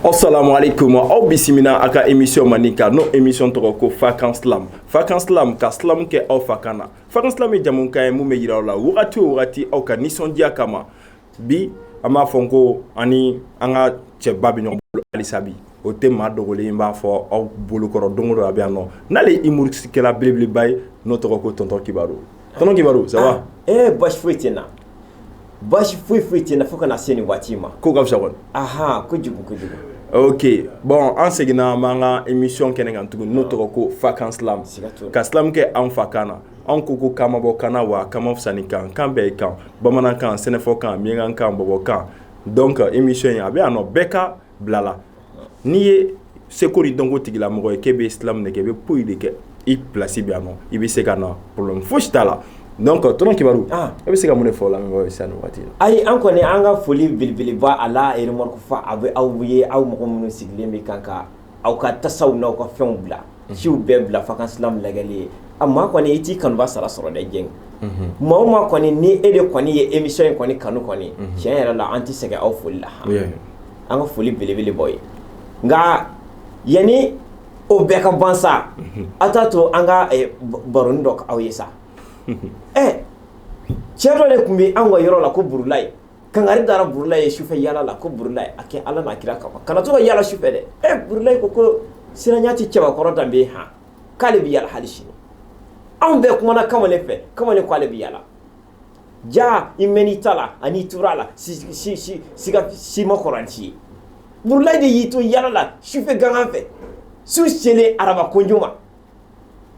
Assalamu alaikum aw bisimila a ka émission mani kan n'o émission tɔgɔ ko fakan slam fakan slam ka slam kɛ aw fa kan na fakan slam ye jamukan ye mun bɛ yira aw la wagati o wagati aw ka nisɔndiya kama bi an b'a fɔ ko ani an ka cɛba bɛ ɲɔgɔn bolo halisa bi o tɛ maa dogolen in b'a fɔ aw bolokɔrɔ don o don a bɛ yan nɔ n'ale ye humoriste kɛla belebeleba ye n'o tɔgɔ ko tonton kibaru tonton kibaru ça va ah, eh basi foyi tɛ n na basi foyi foyi tɛ na fo ka na se nin waati ma ko ka fisa kɔni aha kojugu kojugu ok bon an seginna an b'an ka émission kɛnɛ kan tuguni n'o tɔgɔ ko fakan slam ka slam kɛ an fa kan na an ko ko kan ma bɔ kan na wa kan ma fisa ni kan kan bɛɛ ye kan bamanankan sɛnɛfɔkan miɲankakan bɔbɔkan donc émission in a bɛ yan nɔ bɛɛ ka bila la n'i ye seko ni dɔnko tigilamɔgɔ ye k'e bɛ slam de kɛ i bɛ poyi de kɛ i place bɛ yan i bɛ se ka na problème fosi t'a la donc tonton kibaru e bɛ se ka mun fɔ la sa waati ayi an kɔni an ka foli belebeleba a la yɛrɛma faa a bɛ aw ye aw mɔgɔ minnu sigilen bɛ kan ka aw ka tasaw n' aw ka fɛnw bila siw bɛɛ bila fakan slam lajɛli ye a maa kɔni i t'i kanubaa sara sɔrɔ dɛ jɛn maa o maa kɔni ni e de kɔni ye émission in kɔni kanu kɔni tiɲɛ yɛrɛ la an tɛ sɛgɛn aw foli la an ka foli belebele b'aw ye nka yanni o bɛɛ ka ban sa aw t'a to an ka eh, b- baroni dɔ aw ye sa ɛ cɛ dɔ de tun bɛ anw ka yɔrɔ la ko burulayi kangari dara burulayi ye sufɛ yaala la ko burulayi a kɛ ala n'a kira kama kana to ka yaala sufɛ dɛ ɛ burulayi ko ko siranya tɛ cɛbakɔrɔ danbe ye han k'ale bɛ yaala hali sini anw bɛɛ kumana kamalen fɛ kamalen ko ale bɛ yaala ja i mɛn i ta la ani tora la siga sima kɔrɔnti ye burulayi de y'i to yaala la sufɛ gangan fɛ su selen araba kojo ma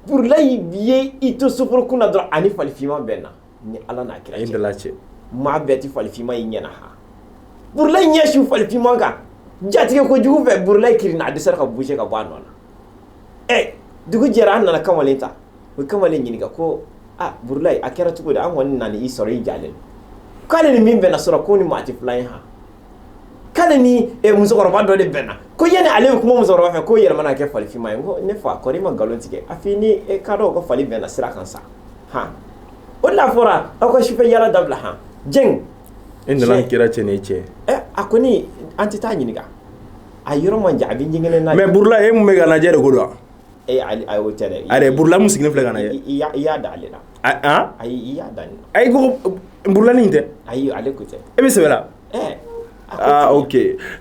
burulayi ye i to soforo kun na dɔrɔn ani falifinma bɛnna ni ala n'a kira dala cɛ maa bɛɛ tɛ falifinma ye i ɲɛ na ha burulayi ɲɛ su falifinma kan jatigɛ kojugu fɛ burulayi kirinna a dɛsɛra ka bouger ka bɔ a nɔ na ɛ dugu jɛra an nana kamalen ta u ye kamalen ɲininka ko a burulayi a kɛra cogo di an kɔni nana i sɔrɔ i jalen k'ale ni min bɛnna surɔ k'o ni maa tɛ filan ye han k'ale ni musokɔrɔba dɔ de bɛnna ko yanni ale bɛ kuma musokɔrɔba fɛ k'o yɛlɛmana ka kɛ falifima ye ko ne fa kɔri i ma nkalon tigɛ a f'i ni ka dɔn ka fali bɛnna sira kan sa han o de la fɔra aw ka sufɛ yaala dabila han jɛn e nana kira cɛ ni cɛ a kɔni an tɛ taa ɲininka a yɔrɔ man jan a bɛ ɲɛgɛnɛ na mais Burulayi e mun bɛ ka lajɛ de ko don wa? Ee ayi ayi o tɛ dɛ, a yɛrɛ Burulayi min sigilen filɛ ka lajɛ, i y'a i y'a da ale la, a an, ayi i y'a da ale la, ayi ko Burulayi nin tɛ, ayi ale ko tɛ, e bɛ sɛbɛ la, ɛɛ, aa ok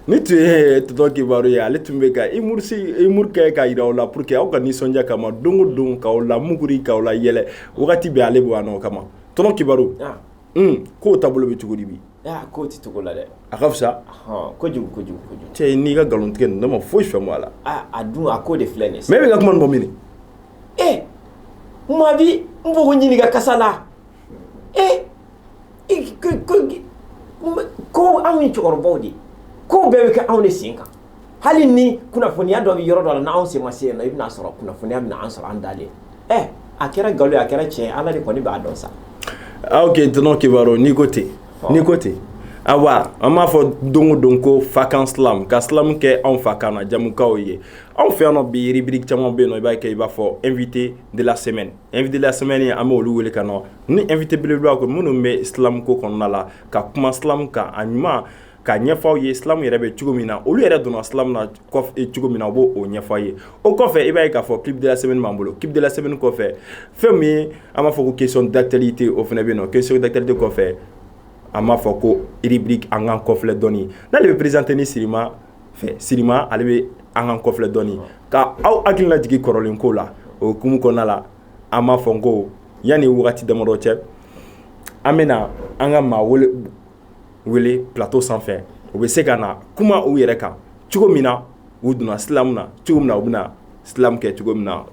nin tun ye tonton Kibaru ye ale tun bɛ ka humour humour kɛ ka yira aw la pour que aw ka nisɔndiya kama don o don k'aw lamuguri k'aw layɛlɛ wagati bɛɛ ale bɛ yan nɔ o kama tonton Kibaru, an, un k'o taabolo bɛ cogo di bi K'o tɛ cogo la dɛ a ka fisa kojugu kojugu cɛ n'i ka nkalon tigɛ ne ma foyi faamu a la a dun a ko de filɛ nin mais e bɛ ka kuma bɔ min e maa bi n b'o ko ɲininka karisa la e ko anw ni cɛkɔrɔbaw de ko bɛɛ bɛ kɛ anw de sen kan hali ni kunnafoniya dɔ bɛ yɔrɔ dɔ la n'an sen ma se yen nɔ i bɛna sɔrɔ kunnafoniya bɛna an sɔrɔ an dalen ɛ a kɛra nkalon ye a kɛra tiɲɛ ala de kɔni b'a dɔn sa ok Tonton Kibaru n'i ko ten n'i ko ten ayiwa an b'a fɔ don o don ko Fakan slam ka slam kɛ anw fa kan na jamukaw ye anw fɛ yan nɔ bi rubrique caman bɛ yen nɔ i b'a kɛ i b'a fɔ invité de la semaine invité de la semaine an bɛ olu wele ka nɔ ni invité belebeleba ko minnu bɛ slam ko kɔnɔna la ka kuma slam kan a ɲuman ka ɲɛfɔ aw ye slam yɛrɛ bɛ cogo min na olu yɛrɛ donna slam na cogo min na u b'o ɲɛfɔ aw ye o kɔfɛ i b'a ye k'a fɔ clip de la semaine b'an bolo clip de la semaine kɔfɛ fɛn min ye an b'a fɔ ko question d'actualité o fana bɛ yen nɔ question d'actualité kɔfɛ an b'a fɔ ko rubrique an k'an kɔfilɛ dɔɔni n'ale bɛ présenter ni sirima fɛ sirima ale bɛ an k'an kɔfilɛ dɔɔni k' aw hakili lajigin kɔrɔlen ko la o hukumu kɔnɔna la an b'a fɔ n ko yanni waati damadɔ cɛ an bɛna na an ka maa wele plateau sanfɛ u bɛ se ka na kuma u yɛrɛ kan cogo min na u donna slam na cogo min na u bɛna slam kɛ cogo min na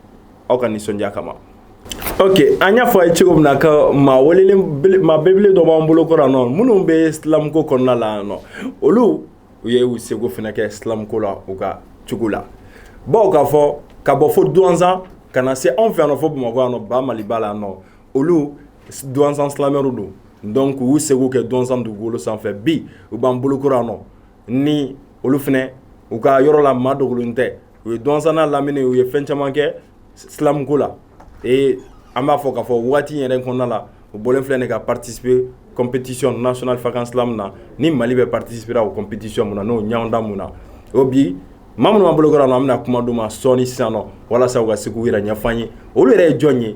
aw ka nisɔndiya kama ok an y'a fɔ a ye cogo min na ka maa maa belebele dɔ b'an bolo kɔrɔ yan nɔ minnu bɛ slam ko kɔnɔna la yan nɔ olu u ye u seko fana kɛ slam ko la u ka cogo la bawo k'a fɔ ka bɔ fo Douentza ka na se anw fɛ yan nɔ fo bamakɔ yan nɔ ba maliba la yan nɔ olu Douentza slameurw don donc u u seko kɛ Douentza dugukolo sanfɛ bi u b'an bolo kɔrɔ yan nɔ ni olu fana u ka yɔrɔ la maa dogolen tɛ u ye Douentza lamini u ye fɛn caman kɛ slam ko la ee an b'a fɔ k'a fɔ waati yɛrɛ kɔnɔna la u bɔlen filɛ nin ka participer compétition nationale Fakan slam na ni mali bɛ participer o compétition min na n'o ɲɔgɔndan min na o bi maa minnu b'an bolo kɔrɔ nɔ an bɛna na kuma d'u ma sɔɔni sisan nɔ walasa ka se k'u yɛrɛ ɲɛfɔ an ye olu yɛrɛ ye jɔn ye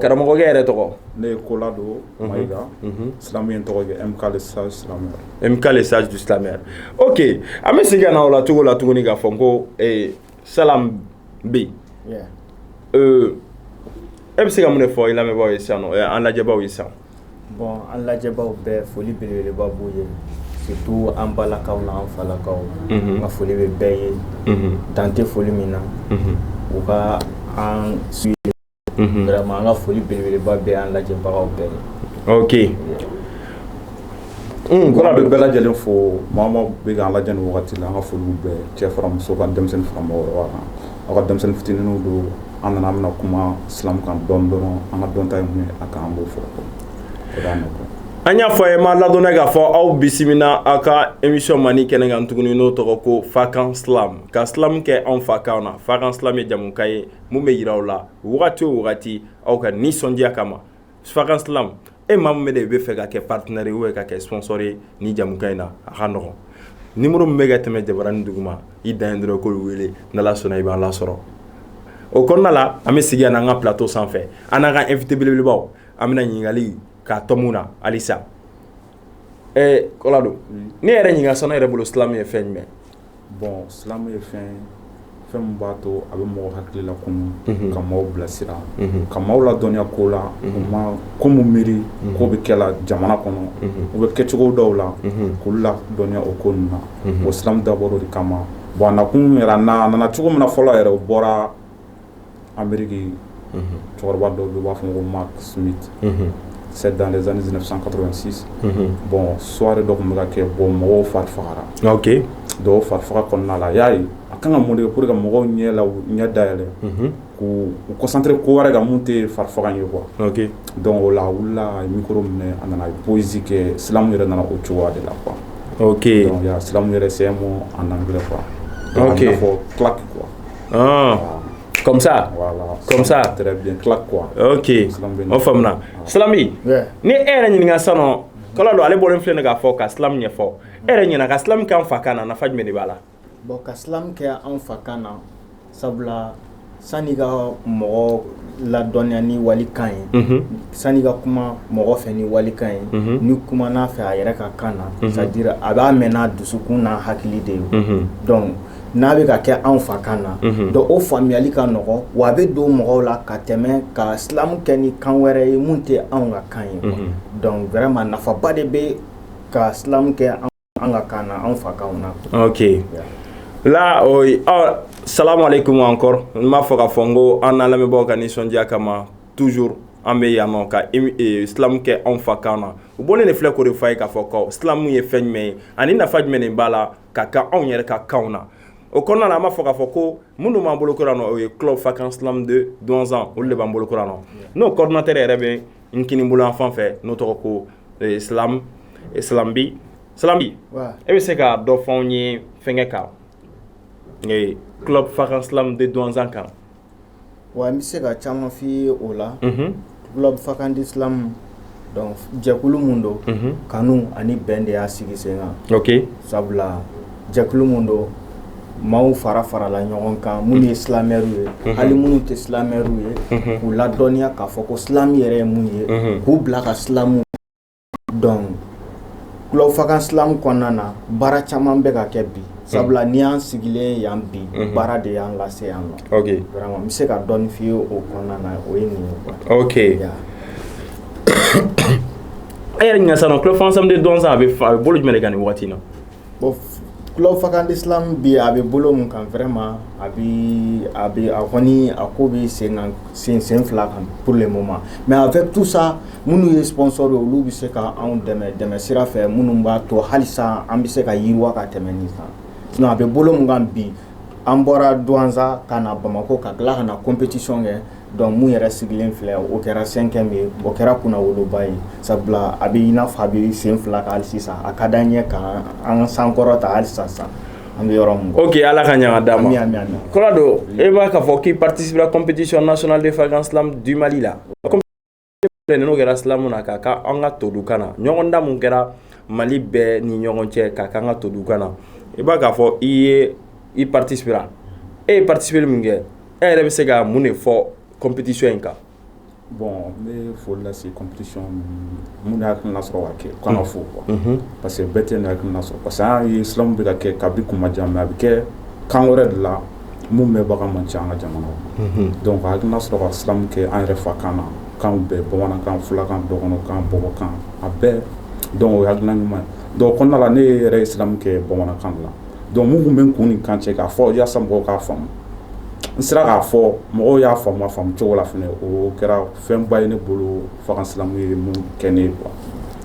karamɔgɔkɛ yɛrɛ tɔgɔ ne ye Kolado Maiga slameur tɔgɔ MK le sage du slameur ok an bɛ se ka na o la cogo la tuguni k'a fɔ n ko slam bi e bɛ se ka mun fɔ i lamɛnbaaw ye sisan nɔ an lajɛbaw ye sisan Bon an lajɛbaw bɛɛ foli belebeleba b'u ye surtout an balakaw na an falakaw ka foli bɛ bɛɛ ye dan tɛ foli min na u ka an su an ka foli belebeleba bɛ an lajɛbagaw bɛɛ ye ok Kola bɛ bɛɛ lajɛlen fo mɔgɔ min bɛ an lajɛ nin wagati la an ka foli bɛ cɛ fara muso kan denmisɛnnin fara aw ka denmisɛnnin fitinin don an nana an bɛna kuma silam kan dɔn dɔrɔn an ka dɔnta ye mun a kan an b'o fɔ an y'a fɔ ye n b'aw ladɔnniya k'a fɔ aw bisimila aw ka émission mani kɛnɛ kan tuguni n'o tɔgɔ ko fakan silam ka silam kɛ anw fakan na fakan silam ye jamukan ye mun bɛ jira aw la wagati o wagati aw ka nisɔndiya kama fakan silam e maa min bɛ de i b'a fɛ ka kɛ partenaire ye ou ka kɛ sponsor ye nin jamukan in na a ka nɔgɔ numéro min bɛ ka tɛmɛ jabaranin duguma i dan ye dɔrɔn k'olu wele n'ala sɔnna i b'an lasɔrɔ o kɔnɔna la an bɛ sigi yan an ka plateau sanfɛ an n'an ka efitebelebelebaw an bɛ ɲininkakali ka tɔmɔ na halisa ɛ kolado n'e yɛrɛ ɲininka sisan e yɛrɛ bolo silam ye fɛn jumɛn bon silam ye fɛn fɛn min b'a to a bɛ mɔgɔ hakili lakunun ka maaw bilasira ka maaw ladɔnniya kow la u ma ko minnu miiri kow bɛ kɛ la jamana kɔnɔ u bɛ kɛ cogo dɔw la k'olu ladɔnniya o kɔnɔna o silam dabɔra o de kama bon a nakun yɛrɛ a nana cogo min na fɔlɔ yɛrɛ o bɔra anbirike cɛkɔrɔba dɔw u b'a fɔ ko ma sumi sɛ dan zani san kato sisan bɔn sowari dɔ tun bɛ ka kɛ bɔ mɔgɔw fari fagara dɔw fari faga kɔnɔna la y'a ye a kan ka mun ye ko ka mɔgɔw ɲɛ la ɲɛ day yɛrɛ ko u kɔsantere ko wɛrɛ ka mun tɛ fari faga ye kuwa dɔn o la wulila mikoro minɛ a nana bosi kɛ silamɛmu yɛrɛ nana o cogo de la qu silamɛmu yɛrɛ sɛ ma an fɔ kuwa Ah. Comme ça voilà. Comme ça Très bien, claque quoi. Ok, o faamuna. Silami, ni e yɛrɛ ɲininka sisan nɔ, Kolado ale bɔlen filɛ nin k'a fɔ ka silam ɲɛfɔ. E yɛrɛ ɲɛ na ka silam kɛ an fakan na, nafa jumɛn de b'a la? Bon ka silam kɛ an fakan na, sabula sani ka mɔgɔ ladɔnniya ni walikan ye, unhun, sani ka kuma mɔgɔ fɛ ni walikan ye, unhun, n'i kumana a fɛ a yɛrɛ ka kan na, unhun, c'est à dire a b'a mɛn n'a dusukun n'a hakili de ye, unhun, donc n'a bɛ ka kɛ anw fakan na donc o faamuyali ka nɔgɔ wa a bɛ don mɔgɔw la ka tɛmɛ ka silam kɛ ni kan wɛrɛ ye mun tɛ anw ka kan ye donc vraiment nafaba de bɛ ka silam kɛ an ka kan na anw fakan na ok la salamu aleyikum encore n b'a fɔ k'a fɔ ko an lamɛnbagaw ka nisɔndiya kama toujours an bɛ yan nɔ ka silam kɛ anw fakan na u bɔlen de filɛ k'o de fɔ an ye k'a fɔ ko silam ye fɛn jumɛn ye ani nafa jumɛn b'a la ka kɛ anw yɛrɛ ka kan na o kɔnɔna a b'a fɔ k'a fɔ ko minnu b'an bolo kura o ye kufa kan donsan olu de b'an bolo kura nɔ n'o kɔrɔtɛ yɛrɛ bɛ n kini bolo an fan fɛ n'o tɔgɔ ko e bɛ se ka dɔ fɔ ye fɛnkɛ kan kufa kan donsan kan Wa n bɛ se ka caman f'i ye o la Club Fakan de silamu donc jɛkulu min don kanu ani bɛn de y'a sigi sen kan ok sabula jɛkulu min don maaw fara farala ɲɔgɔn kan minnu ye silamɛriw ye hali minnu tɛ silamɛriw ye k'u ladɔnniya k'a fɔ ko silamu yɛrɛ ye mun ye k'u bila ka silamu donc Club Fakan silamu kɔnɔna na baara caman bɛ ka kɛ bi sabula n'i y'an sigilen yan bi baara de y'an lase yan vraiment n bɛ se ka dɔɔni f'i ye o kɔnɔna na o ye nin ye ok e yɛrɛ ɲininka sa Club Fakan de Douentza a bɛ bolo jumɛn kan nin waati na Club Fakan de silamu bi a bɛ bolo min kan vraiment a bi a bi a kɔni a ko bɛ sen sen sen fila kan pour le moment mais avec tout ça minnu ye sponsor olu bɛ se k' anw dɛmɛ dɛmɛ sira fɛ minnu b'a to halisa an bɛ se ka yiriwa ka tɛmɛ nin kan sinon a bɛ bolo min kan bi an bɔra Douentza ka na bamakɔ ka tila ka na compétition kɛ Donc min yɛrɛ sigilen filɛ o kɛra cinquième ye o kɛra kunnawoloba ye sabula a bɛ i n'a fɔ a bɛ sen fila kan hali sisan a ka di an ye ka an sankɔrɔta hali sisan an bɛ yɔrɔ min ok ala ka ɲaga d'a ma Kolado e b'a k'a fɔ k'i participera compétition nationale de Fakan Slam du mali la n'o kɛra silamu na ka ka an ka todukan na ɲɔgɔndan min kɛra mali bɛɛ ni ɲɔgɔn cɛ ka ka an ka todukan na i b'a k'a fɔ i participera e ye participer min kɛ e yɛrɛ bɛ se ka mun de fɔ compétition in kan bon n bɛ foli lase compétition minnu y'a hakilina sɔrɔ ka kɛ k'u fo quoi parce que bɛɛ t'a hakilina sɔrɔ parce que an y'a ye silamu bɛ ka kɛ kabi kuma jan mais a bɛ kɛ kan wɛrɛ de la min mɛnbaga man ca an ka jamana kɔnɔ donc a hakilina sɔrɔ ka silamu kɛ an yɛrɛ fakan na kan bɛɛ bamanankan fulakan dɔgɔnɔkan bɔbɔkan a bɛɛ o ye hakilina ɲuman ye donc o kɔnɔna la ne yɛrɛ ye silamu kɛ bamanankan la donc min tun bɛ n kun ni kan cɛ k'a fɔ walasasa mɔgɔw k'a faamu n sera k'a fɔ mɔgɔw y'a faamu faamu cogo la o kɛra fɛnba ye ne bolo Fakan silamu ye min kɛ ne ye quoi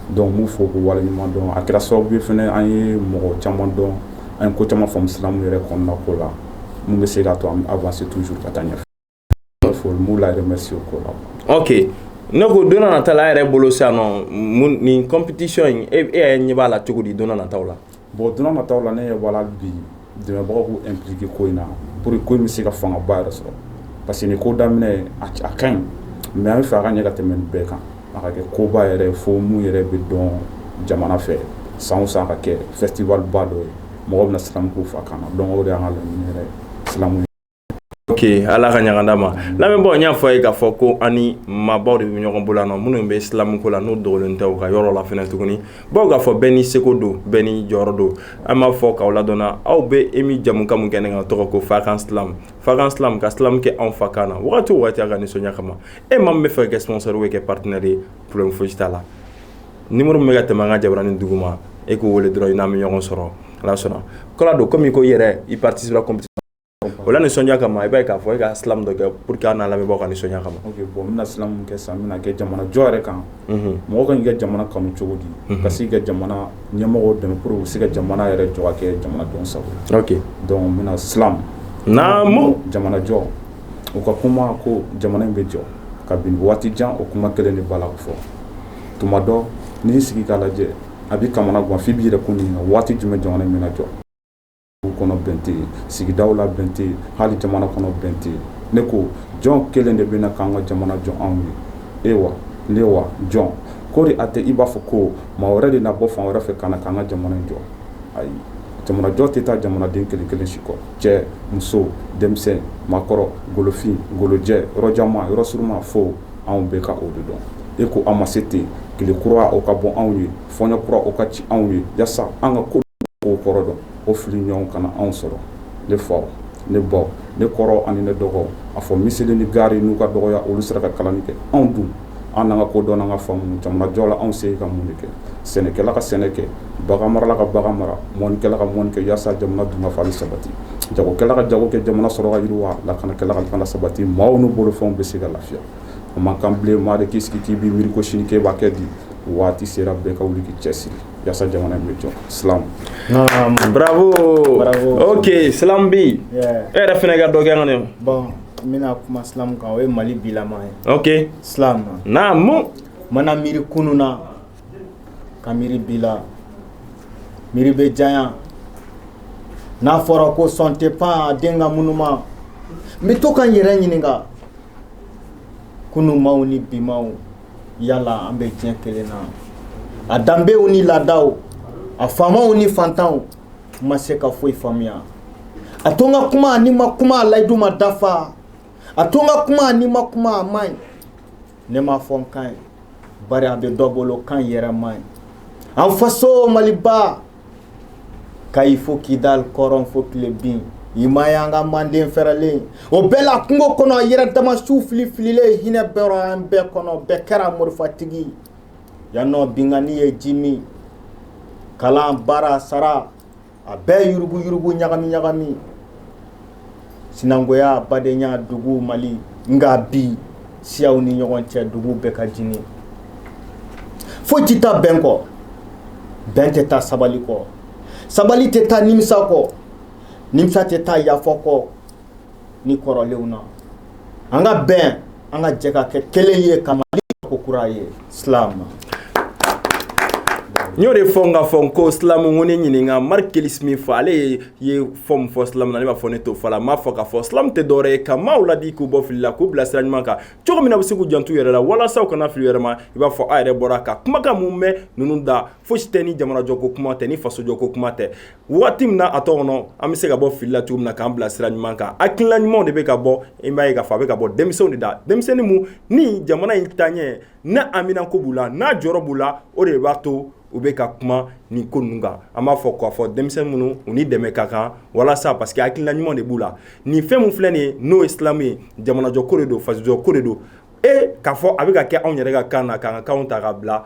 donc k'u fo k'u waleɲuman dɔn a kɛra sababu ye fana an ye mɔgɔ caman dɔn an ye ko caman faamu silamu yɛrɛ kɔnɔna ko la min bɛ se k'a to an bɛ avancer toujours ka taa ɲɛfɛ fo n b'u la remercier o ko la ɔke ne ko don nata la a yɛrɛ bolo sa nɔ nin compétition in e e ɲɛ b'a la cogo di don nata la bon don nata la ne ɲɛ b'a la bi dɛmɛbagaw k'u impliquer ko in na pour que ko in bɛ se ka fangaba yɛrɛ sɔrɔ parce que nin ko daminɛ a ka ɲi mais an b'a fɛ a ka ɲɛ ka tɛmɛ bɛɛ kan A ka kɛ koba yɛrɛ fo min yɛrɛ bɛ dɔn jamana fɛ san o san ka kɛ festival ba dɔ ye mɔgɔw bɛna silamu k'u fa kan na donc o de y'an ka laɲini yɛrɛ silamu ye ala ka ɲaga d'a ma lamɛnbaaw n y'a fɔ aw ye k'a fɔ ko ani maabaw de bɛ ɲɔgɔn bolo na minnu bɛ silamuko la n'u dogonin tɛ u ka yɔrɔ la fɛnɛ tuguni bawo k'a fɔ bɛɛ n'i seko don bɛɛ n'i jɔyɔrɔ don an b'a fɔ k'aw ladɔnna aw bɛ emi jɛmukan min kɛnɛ kan tɔgɔ ko fakan silamu ka silamu kɛ anw fa kan na waati o waati aw ka nisɔndiya kama e maa min bɛ fɛ ka kɛ sponsor bɛ kɛ partenaire ye problème foyi t'a la numéro min bɛ ka tɛmɛ an ka jabaranin duguma e k'o weele dɔrɔn i n'an bɛ ɲɔgɔn sɔrɔ ala sɔnna kɛla don kɔmi ko i yɛrɛ i participer o la nisɔndiya kama i b'a ye k'a fɔ e ka silamu dɔ kɛ pour que an n'a lamɛnbaaw ka nisɔndiya kama bɔn n bɛna silamu kɛ sisan n bɛn'a kɛ jamanajɔ yɛrɛ kan mɔgɔ kan k'i ka jamana kanu cogo di ka se ka jamana ɲɛmɔgɔw dɛmɛ pour que u se ka jamana yɛrɛ jɔ ka kɛ jamanadenw sago ye donc n bɛna silamu naamu jamanajɔ u ka kuma ko jamana in bɛ jɔ kabini waati jan o kuma kelen de b'a la fɔ tuma dɔ n'i y'i sigi k'a lajɛ a b'i kamanagan f'i b'i yɛrɛ ko ɲininka waati jumɛn jamana in bɛna jɔ Du kɔnɔ bɛn tɛ yen sigida la bɛn tɛ yen hali jamana kɔnɔ bɛn tɛ yen ne ko jɔn kelen de bɛ na k'an ka jamana jɔ anw ye e wa ne wa jɔn kɔri a tɛ i b'a fɔ ko maa wɛrɛ de na bɔ fan wɛrɛ fɛ ka na k'an ka jamana jɔ ayi jamanajɔ tɛ taa jamanaden kelen kelen si kɔ cɛ muso denmisɛn maakɔrɔ golofin golojɛ yɔrɔ janman yɔrɔ surunman fo anw bɛɛ ka o de dɔn e ko an ma se ten tile kura o ka bɔ anw ye fɔɲɔ kura o ka ci anw ye yasa an ka ko kow kɔrɔ dɔn o fili ɲɔgɔn kana anw sɔrɔ ne faw ne baw ne kɔrɔ ani ne dɔgɔw a fɔ miseli ni gari n'u ka dɔgɔya olu sera ka kalanni kɛ anw dun an n'an ka kodɔn n'an ka faamu jamanajɔ la anw se ka mun de kɛ sɛnɛkɛla ka sɛnɛ kɛ bagan marala ka bagan mara mɔnikɛla ka mɔni kɛ yasa jamana dunkafa ni sabati jagokɛla ka jago kɛ jamana sɔrɔ ka yiriwa lakanakɛla ka lakana sabati maaw n'u bolofɛnw bɛ se ka lafiya a man kan bilen maa de k'i sigi k'i b'i miiri ko sini k'e b'a kɛ di waati sera bɛɛ ka wuli k'i cɛsiri yasa jamana in bɛ jɔ silam bravo ok silam bɛ e yɛrɛ fɛnɛ ka dɔ kɛ an ye bɔn n bɛna kuma silam kan o ye mali bilama ye ok silam naamu n mana miiri kunun na ka miiri bi la miiri bɛ janya n'a fɔra ko sɔn tɛ pan a den ka ŋunuma n bɛ to ka n yɛrɛ ɲininka kunun maaw ni bi maaw yala an bɛ diɲɛ kelen na a danbew ni laadaw a faamaw ni fantanw n ma se ka foyi faamuya a to n ka kuma ni n ma kuma a layidu ma dafa a to n ka kuma ni n ma kuma a man ɲi ne m'a fɔ n ka ɲi bari a bɛ dɔ bolo ka ɲi yɛrɛ man ɲi an faso maliba Kayi fo Kidal kɔrɔn fo tilebin i ma y'an ka manden fɛrɛlen o bɛɛ la kungo kɔnɔ yɛrɛ dama su fili fililen hinɛ bɔra an bɛɛ kɔnɔ bɛɛ kɛra morifatigi yan nɔ binkanni ye ji min kalan baara sara a bɛɛ yurugu yurugu ɲagami ɲagami sinangoya badenya dugu Mali nka bi siyaw ni ɲɔgɔn cɛ dugu bɛ ka jeni foyi tɛ taa bɛn kɔ bɛn tɛ taa sabali kɔ sabali tɛ taa nimisa kɔ nimisa tɛ taa yafa kɔ ni kɔrɔlenw na an ka bɛn an ka jɛ ka kɛ kelen ye ka Mali ko kura ye slam. n y'o de fɔ n ka fɔ n ko slam n ko ne ɲininka marc kelis min fɔ ale ye fɛn min fɔ slam na ne b'a fɔ ne t'o fɔ la n b'a fɔ k'a fɔ slam tɛ dɔwɛrɛ ye ka maaw ladi k'u bɔ fili la k'u bila sira ɲuman kan cogo min na u bɛ se k'u janto yɛrɛ la walasa u kana fili yɛrɛ ma i b'a fɔ a yɛrɛ bɔra ka kumakan mun mɛn ninnu da fosi tɛ ni jamanajɔko kuma tɛ ni fasojɔko kuma tɛ waati min na a tɔ kɔnɔ an bɛ se ka bɔ fili la cogo min na k'an bila sira ɲuman kan hakilina ɲumanw de bɛ ka bɔ i b'a ye k'a fɔ a bɛ ka bɔ denmisɛnw de da denmisɛnnin min ni jamana in taaɲɛ n'a haminanko b'u la n'a jɔyɔrɔ b'u la o de b'a to u bɛ ka kuma nin ko ninnu kan an b'a fɔ k'a fɔ denmisɛnnin minnu u ni dɛmɛ ka kan walasa parce que hakilina ɲuman de b'u la nin fɛn min filɛ nin ye n'o ye slam ye jamanajɔ ko de don fasojɔ ko de don e k'a fɔ a bɛ ka kɛ anw yɛrɛ ka kan na k'an ka kanw ta ka bila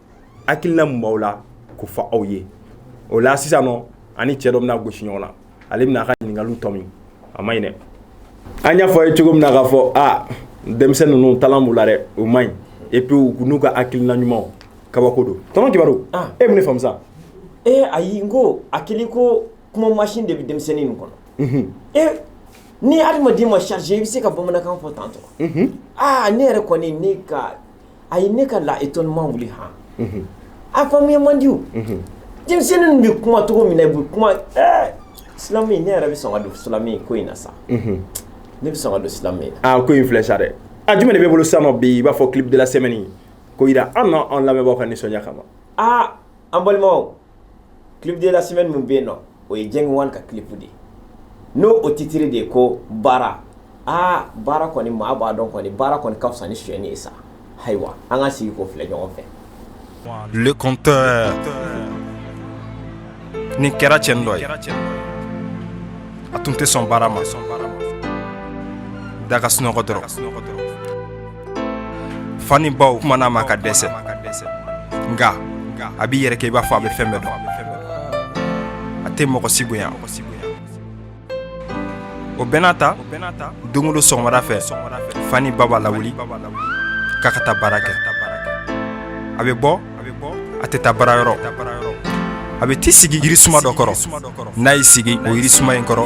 hakilina min b'aw la k'o fɔ aw ye o la sisan nɔ ani cɛ dɔ bɛna gosi ɲɔgɔn na ale bɛna a ka ɲininkaliw tɔmi a ma ɲi dɛ an y'a fɔ a ye cogo min na k'a fɔ a denmisɛn ninnu talent b'u la dɛ o ma ɲi et puis u n'u ka hakilina ɲumanw kabako don tɔnɔ kibaru ah. e bɛ ne faamu sa ee ayi n ko a kɛlen ko kuma masin de bɛ denmisɛnnin nin kɔnɔ mhm. e ni adamaden ma chargé i bɛ se ka bamanankan fɔ tan tɔ aa ne yɛrɛ kɔni ne ka a ye ne ka la étonnement wuli han a faamuya man di denmisɛnnin bɛ kuma cogo min na i bɛ kuma slam ne yɛrɛ bɛ sɔn ka don slam ko in na sa ne bɛ sɔn ka don slam na ko in filɛ sa dɛ a jumɛn de bɛ bolo sa nɔ bi i b'a fɔ clip de la semaine k'o jira an na an lamɛnbagaw ka nisɔndiya kama an balimaw clip de la semaine min bɛ yen nɔ o ye Jeng Wan ka clip de ye n'o o titre de ye ko baara aa baara kɔni maa b'a dɔn kɔni baara kɔni ka fisa ni sonyɛni ye sa ayiwa an ka sigi k'o filɛ ɲɔgɔn fɛ le conteur nin kɛra cɛnin dɔ ye a tun tɛ sɔn baara ma da ka sunɔgɔ dɔrɔn fa ni baw kuman'a ma ka dɛsɛ nka a b'i yɛrɛ kɛ i b'a fɔ a bɛ fɛn bɛɛ dɔn a tɛ mɔgɔ si bonya o bɛɛ n'a ta don o don sɔgɔmada fɛ fa ni ba b'a lawuli k'a ka taa baara kɛ a bɛ bɔ a tɛ taa baarayɔrɔ a bɛ t'i sigi yirisuma dɔ kɔrɔ n'a y'i sigi o yirisuma in kɔrɔ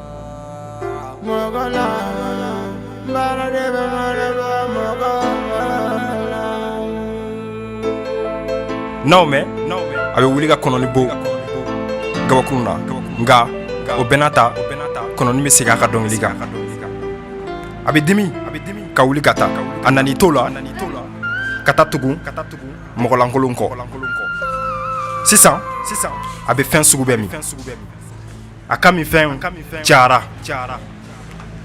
n'a y'o mɛn a bɛ wuli ka kɔnɔni bon gabakurun na nka o bɛɛ n'a ta kɔnɔni bɛ segin a ka dɔnkili kan a bɛ dimi ka wuli ka taa a nan'i to la ka taa tugu mɔgɔlankolon kɔ sisan a bɛ fɛn sugu bɛɛ min a ka minfɛn cayara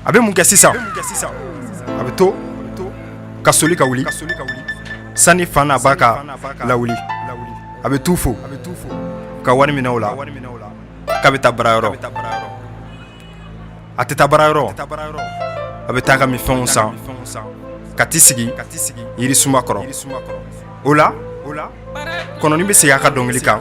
a bɛ mun kɛ sisan a bɛ to ka soli ka wuli sani fa n'a ba k'a lawuli a bɛ t'u fo ka wari minɛ o la k'a bɛ taa baarayɔrɔ a tɛ taa baarayɔrɔ a bɛ taa ka minfɛnw san ka t'i sigi yirisuma kɔrɔ o la kɔnɔni bɛ segin a ka dɔnkili kan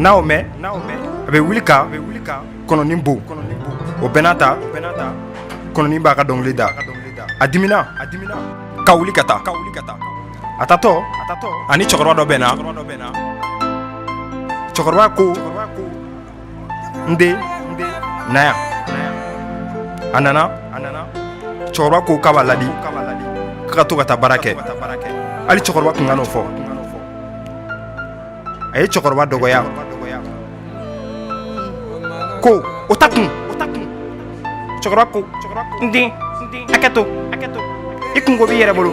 N'a y'o mɛn a bɛ wuli ka kɔnɔni bon o bɛɛ n'a ta kɔnɔni b'a ka dɔnkili da a dimina ka wuli ka taa ka wuli ka taa a taatɔ a ni cɛkɔrɔba dɔ bɛnna cɛkɔrɔba ko n den na yan a nana cɛkɔrɔba ko k'a b'a ladi k'a ka to ka taa baara kɛ hali cɛkɔrɔba tun kan'o fɔ a ye cɛkɔrɔba dɔgɔya ko o t'a kun cɛkɔrɔba ko n den hakɛ to i kunko b'i yɛrɛ bolo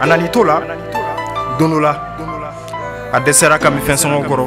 a nana i to la don dɔ la a dɛsɛr'a ka minfɛn sɔngɔ kɔrɔ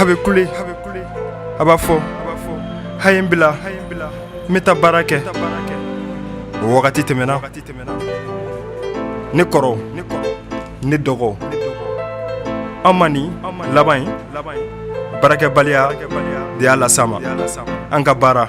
a bɛ kule a b'a fɔ a ye n bila n bɛ taa baara kɛ o wagati tɛmɛna ne kɔrɔ ne dɔgɔ an ma nin laban ye baarakɛbaliya de y'a las'a ma an ka baara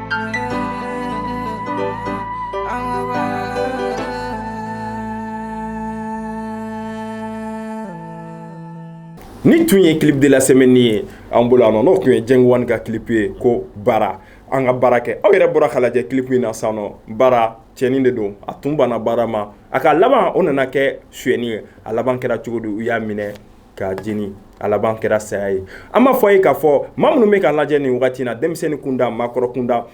Nin tun ye clip de la semaine ye an bolo a n'o tun ye Jenguwan ka clip ye ko baara an ka baara kɛ aw yɛrɛ bɔra k'a lajɛ clip in na sisan nɔ baara cɛnin de don a tun banna baara ma a ka laban o nana kɛ suyɛni ye a laban kɛra cogo di u y'a minɛ k'a jeni a laban kɛra saya ye an b'a fɔ a ye k'a fɔ maa minnu bɛ k'a lajɛ nin wagati in na denmisɛnnin kunda maakɔrɔ kunda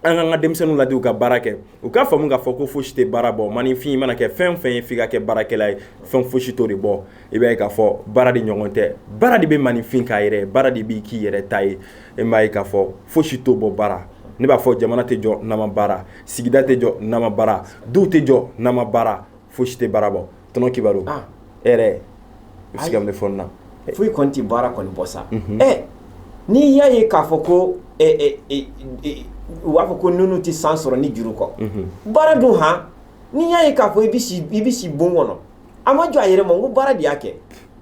an k'an ka denmisɛnninw ladi u ka baara kɛ u k'a faamu k'a fɔ ko fosi tɛ baara bɔ maninfin mana kɛ fɛn fɛn ye f'i ka kɛ baarakɛla ye fɛn fosi t'o de bɔ i b'a ye k'a fɔ baara de ɲɔgɔn tɛ baara de bɛ maninfin k'a yɛrɛ baara de b'i k'i yɛrɛ ta ye e m'a ye k'a fɔ fosi t'o bɔ baara ne b'a fɔ jamana tɛ jɔ n'a ma baara sigida tɛ jɔ n'a ma baara duw tɛ jɔ n'a ma baara fosi tɛ baara bɔ tonton Kibaru e yɛrɛ i bɛ se ka mun fɔ na foyi kɔni tɛ baara kɔni bɔ sa ɛ n'i y'a ye k'a fɔ ko u b'a fɔ ko nunu tɛ san sɔrɔ ni juru kɔ baara dun han n'i y'a ye k'a fɔ i bɛ si bon kɔnɔ a ma jɔ a yɛrɛ ma n ko baara de y'a kɛ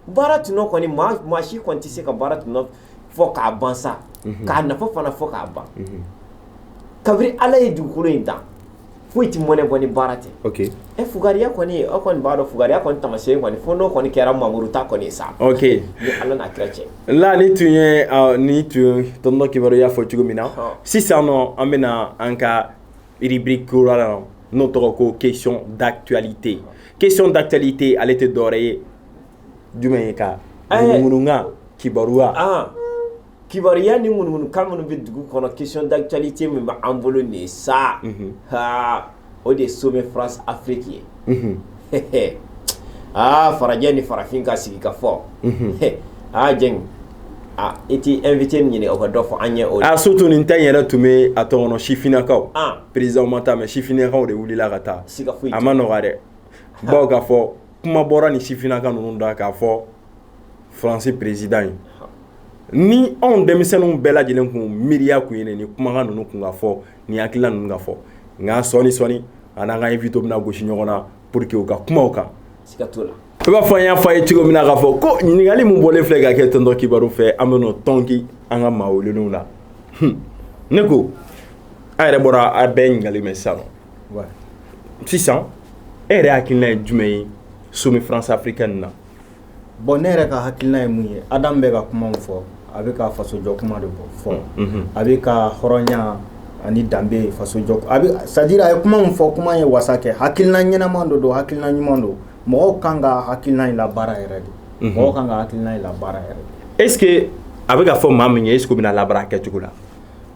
baara tɔnɔ kɔni maa si kɔni tɛ se ka baara tɔnɔ fɔ k'a ban sa k'a nafa fana fɔ k'a ban kabini Ala ye dugukolo in dan foyi tɛ mɔnɛ bɔ ni baara tɛ, ok, ɛ fugariya kɔni aw kɔni b'a dɔn fugariya kɔni taamasiyɛn kɔni fo n'o kɔni kɛra Mamuru ta kɔni ye sa, ok, ni Ala n'a kira cɛ, la nin tun ye ɔ nin tun ye tonton Kibaru y'a fɔ cogo min na sisan nɔ an bɛ na an ka rubrique kura la n'o tɔgɔ ko question d'actualité, question d'actualité ale tɛ dɔwɛrɛ ye jumɛn ye ka ŋunuŋunukan kibaruya kibaruya ni ŋunuŋunukan minnu bɛ dugu kɔnɔ question d'actualité min bɛ an bolo nin sa aa o de ye sommet France Afrique ye aa farajɛ ni farafin ka sigi ka fɔ aa Dieng aaa e tɛ invité ɲini o ka dɔ fɔ an ɲɛ surtout nin ta yɛrɛ tun bɛ a tɔgɔ sifinnakaw président ma taa mais sifinnakaw de wulila ka taa a ma nɔgɔ dɛ bawo k'a fɔ kuma bɔra ni sifinnaka ninnu da k'a fɔ Faransi président ye ni anw denmisɛnninw bɛɛ lajɛlen tun miiriya tun ye ni kumakan ninnu tun ka fɔ ni hakilina ninnu ka fɔ nka sɔɔni sɔɔni a n'an ka invité bɛna gosi ɲɔgɔn na pour que u ka kuma o kan i b'a fɔ an y'a fɔ a ye cogo min na k'a fɔ ko ɲininkali min bɔlen filɛ ka kɛ tonton Kibaru fɛ an bɛ tɔnki an ka maa welelenw la ne ko a yɛrɛ bɔra a bɛɛ ɲininkali mɛn sa sisan e yɛrɛ hakilina ye jumɛn ye sommet France africaine na bon ne yɛrɛ ka hakilina ye mun ye Adam bɛ ka kuma min fɔ a bɛ ka fasojɔ kuma de fɔ a bɛ ka hɔrɔnya ani danbe fasojɔ c'est à dire a ye kuma min fɔ kuma ye wasa kɛ hakilina ɲɛnama dɔ don hakilina ɲuman don mɔgɔw kan ka hakilina in labaara yɛrɛ de mɔgɔw kan ka hakilina in labaara yɛrɛ de est ce que a bɛ k'a fɔ maa min ye est ce que o bɛna labaara a kɛcogo la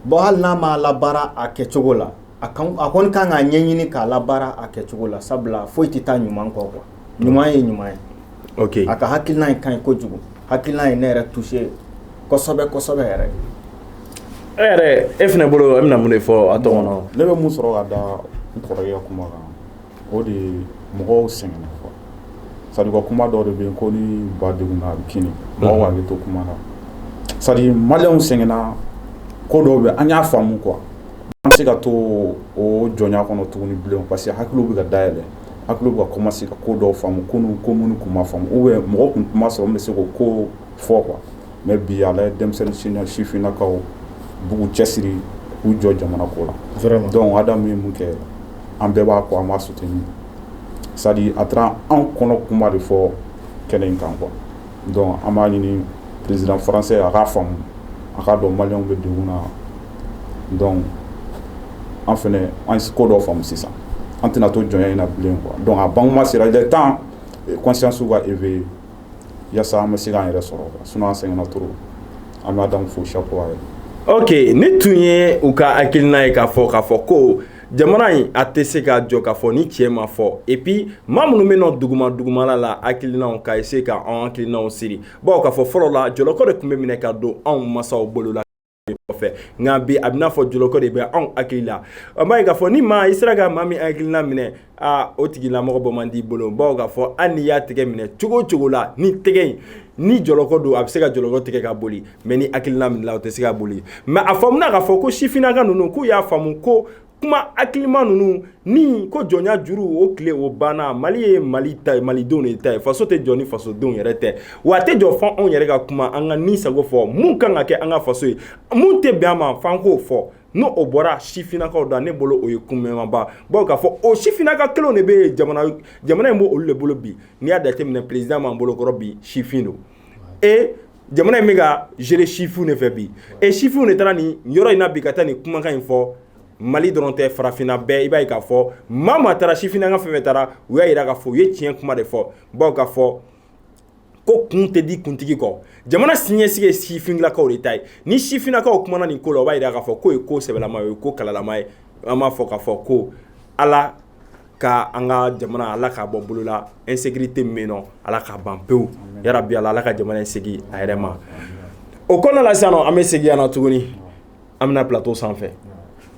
bon hali n'a ma labaara a kɛcogo la a kɔni kan k'a ɲɛɲini k'a labaara a kɛcogo la sabula foyi tɛ taa ɲuman kɔ quoi ɲuman ye ɲuman ye a ka hakilina in ka ɲi kojugu hakilina ye ne yɛrɛ touché kosɛbɛ kosɛbɛ yɛrɛ e yɛrɛ e fana bolo e bɛna mun de fɔ a ne bɛ mun sɔrɔ ka da n kɔrɔ ka kuma kan o de ye mɔgɔw sɛgɛnna quoi c'est à dire ka kuma dɔ de bɛ yen ko ni ba degunna a bɛ kinni mɔgɔw bɛ to kuma na c'est à dire maliyɛnw sɛgɛnna ko dɔw bɛ an y'a faamu quoi an tɛ se ka to o jɔnya kɔnɔ tuguni bilen parce que hakiliw bɛ ka dayɛlɛ hakiliw bɛ ka commencer ka ko dɔw faamu ko ko minnu tun ma faamu ou mɔgɔ tun ma sɔrɔ min bɛ se k'o ko fɔ quoi mɛ bi a denmisɛnnin sifininakaw bugu cɛ siri u jɔ jamana ko la dɔnku ada min mun kɛ an bɛɛ b'a ko an ma sutigi min sa a taara an kɔnɔ kuma de fɔ kɛnɛ in kan kɔ dɔn an b'a ɲini pzfasɛ a k'a faamumu a k'a dɔn maliw bɛ dugu na dɔn an fana an ko dɔ faamumu sisan an tɛna to jɔn in na bilen kuwa dɔn a ban sera tan kɔnsansu ka e fɛ yen yasa an bɛ se k'an yɛrɛ sɔrɔ sinon an sɛgɛnna trop an bɛ Adamu fo chapeau à elle ok nin tun ye u ka hakilina ye k'a fɔ k'a fɔ ko jamana in a tɛ se ka jɔ k'a fɔ ni cɛ ma fɔ et puis maa minnu bɛ nɔ duguma dugumala la hakilinaw ka essayer ka an hakilinaw siri bawo k'a fɔ fɔlɔ la jɔlɔkɔ de tun bɛ minɛ ka don anw masaw bolo la kɔfɛ nka bi a bɛna fɔ jɔlɔkɔ de bɛ anw hakili la an b'a ye k'a fɔ ni maa i sera ka maa min hakilina minɛ aa o tigilamɔgɔ bɔ man d'i bolo bawo k'a fɔ hali n'i y'a tɛgɛ minɛ cogo o cogo la ni tɛgɛ in ni jɔlɔkɔ don a bɛ se ka jɔlɔkɔ tigɛ ka boli mais ni hakilina minɛna o tɛ se ka boli mais a faamuna k'a fɔ ko sifinnaka ninnu k'u y'a faamu ko kuma hakilima ninnu ni ko jɔnya juru o tile o banna mali ye mali ta malidenw de ta ye faso tɛ jɔ ni fasodenw yɛrɛ tɛ wa a tɛ jɔ fo anw yɛrɛ ka kuma an ka ni sago fɔ mun kan ka kɛ an ka faso ye mun tɛ bɛn a ma f'an k'o fɔ ni o bɔra sifinnakaw da ne bolo o ye kunmɛmaba bawo k'a fɔ o sifinnaka kelenw de bɛ jamana in b'olu de bolo bi n'i y'a jateminɛ président min b'an bolokɔrɔ bi sifin don e jamana in bɛ ka gérer sifinw de fɛ bi et sifinw de taara nin yɔrɔ in na bi ka taa nin kumakan in fɔ Mali dɔrɔn tɛ farafinna bɛɛ i b'a ye k'a fɔ maa maa taara sifinnaka fɛn o fɛn taara u y'a jira k'a fɔ u ye tiɲɛ kuma de fɔ bawo k'a fɔ ko kun tɛ di kuntigi kɔ jamana siniɲɛsigi ye sifinnakaw de ta ye ni sifinnakaw kumana nin ko la o b'a jira k'a fɔ k'o ye ko sɛbɛlama ye o ye ko kalalama ye an b'a fɔ k'a fɔ ko Ala ka an ka jamana ala k'a bɔ bolo la insécurité min bɛ yen nɔ ala k'a ban pewu yarabi ala ala ka jamana in segin a yɛrɛ ma o ko la sisan an bɛ segin yan tuguni an bɛna plateau sanfɛ